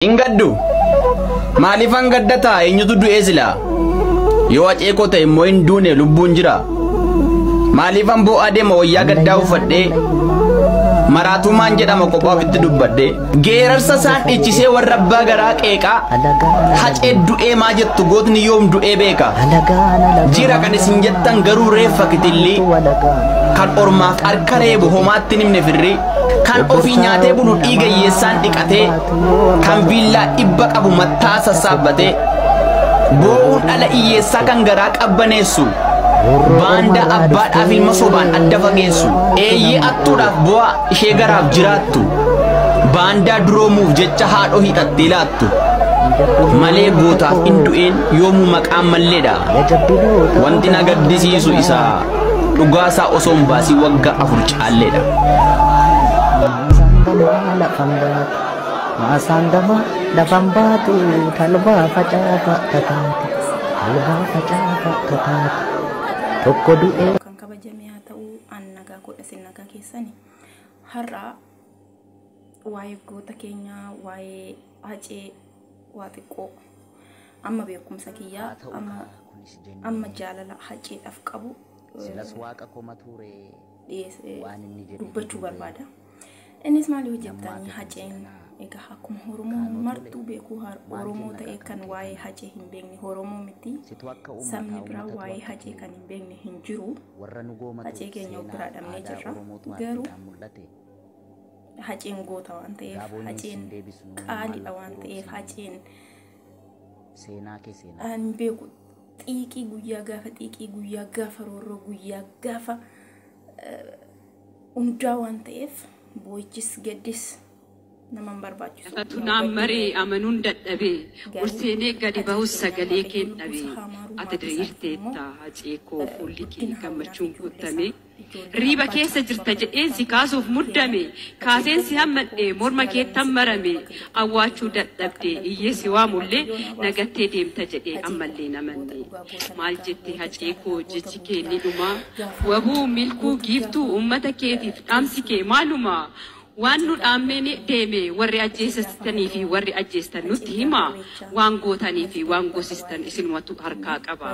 Hin gaddu. Maaliifan gadda ta'a eenyutu du'ee silaa? Yoo hacee koo ta'e immoo hin duune lubbuun jira. Maaliifan boo'aa deema wayyaa gaddaa uffadhee? Maraatumaan jedhama kophaa ofitti dubbadhee. Geerarsa isaan dhichisee warra abbaa garaa qeeqaa. Hacee du'ee maa jettu gootni yoom du'ee beeka. Jira kan isin jettan garuu reeffa kitillii. Kan ormaaf harka reebu homaatti hin himne firrii. Kan ofii nyaatee bulu dhiiga hiyyeessaan dhiqatee. kan viillaa dhibba qabu mattaa sassaabbatee boo'uun dhala iyyeessaa kan garaa qabbaneessu baandaa abbaadhaaf ilma sobaan adda fageessu eeyyee attuudhaaf boo'a ishee garaaf jiraattu baandaa duroomuuf jecha haadhoo hidhattee laattu malee gootaaf in du'een yoomuu maqaan malleedha wanti na gaddisiisu isaa dhugaasaa osoo hin baasiin waggaa afur caalleedha. Maasaan damaa lafan baatu. Maasaan damaa lafan baatu talbaa facaata tataati talbaa facaata tataati tokko du'ee. kan kabajame haa ta'uu an nagaa godha sin nagaa keessani har'a waa'ee goota keenya waa'ee hacee waa xiqqoo amma beekumsa kiyyaa Haa ta'u amma kaa kunis amma jennee jaalala haceedhaaf qabu silas waaqa koma tuure. dhiyeessee dubbachuu barbaada. Innis maal yoo jettanii haceen egaa akkuma Oromoo martuu beekuu Oromoo ta'ee kan waa'ee hacee hin beekne Oromoo miti. Sabni biraa waa'ee hacee kan hin beekne hin jiru. Hacee keenya of biraa dhabnee jirra. Garuu haceen goota waan ta'eef haceen qaaliidha waan ta'eef haceen seenaa kee seenaa. Ani hin beeku xiiqii guyyaa gaafa xiiqii guyyaa gaafa roorroo guyyaa gaafa hundaa waan ta'eef boo'ichis gaddis nama hin barbaachisu. Lafatu naan maree amanuun dadhabe ol seenee gadi bahus sagalee keen dhabe ati diriirteetta hacee koo fuulli kee gammachuun guuttame. Riiba keessa jirta jedheen si kaasuuf muddame Kaaseen si hammadhe morma keettan marame Awwaachuu dadhabde iyyee si waamullee Na gattee deemta jedhee ammallee na manne Maal jette Hacee koo jechi kee ni dhuma Waboo, Milkuu, Giiftuu ummata keetiif dhaamsi kee maaluma? Waan nu dhaammee ni deeme warri ajjeesistanii fi warri ajjeestan nutti himaa Waan gootanii fi waan goosistan isinumatu harkaa qaba.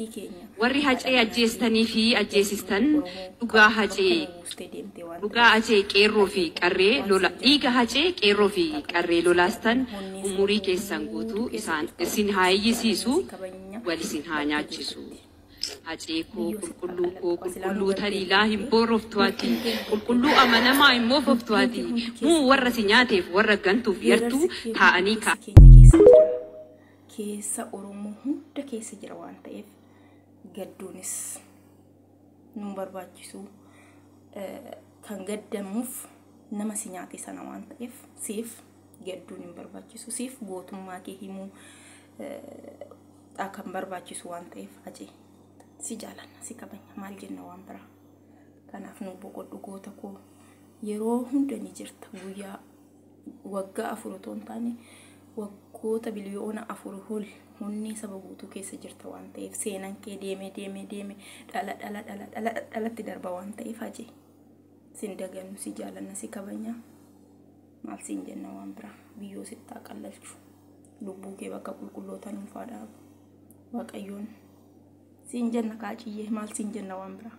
Hacee keenya. Warri hacee ajjeestanii fi ajjeesistan dhugaa hacee dhugaa hacee qeerroo fi qarree lola dhiiga hacee qeerroo fi qarree lolaastan umurii keessan guutuu isaan isin haa iyyisiisu wal isin haa nyaachisu hacee koo qulqulluu koo qulqulluu taliilaa hin booroftu ati qulqulluu amanamaa hin moofoftu ati muu warra si nyaateef warra gantuuf yartuu taa'anii kaa. keessa Oromoo hunda keessa jira waan ta'eef gadduunis nun barbaachisuu kan gaddamuuf nama si nyaate sana waan ta'eef siif gadduun hin barbaachisu siif gootummaa kee himuu kan barbaachisu waan ta'eef hacee si jaalanna si kabanya maal jenna waan biraa kanaaf nu boqodhu goota koo yeroo hunda ni jirta guyyaa Waggaa afur otoo hin taane waggoota biliyoona afur ol onnee saba guutuu keessa jirta waan ta'eef seenan kee deemee deemee deeme dhala dhala dhala dhala dhalatti darba waan ta'eef haje sin dagannu si jaalanna si kabanya maal siin jenna waan biraa biyyoo sittaa qallalchu lubbuu kee bakka qulqullootaa nuuf haa dhaabu waaqayyoon siin jenna kaaciyyee maal siin jenna waan biraa.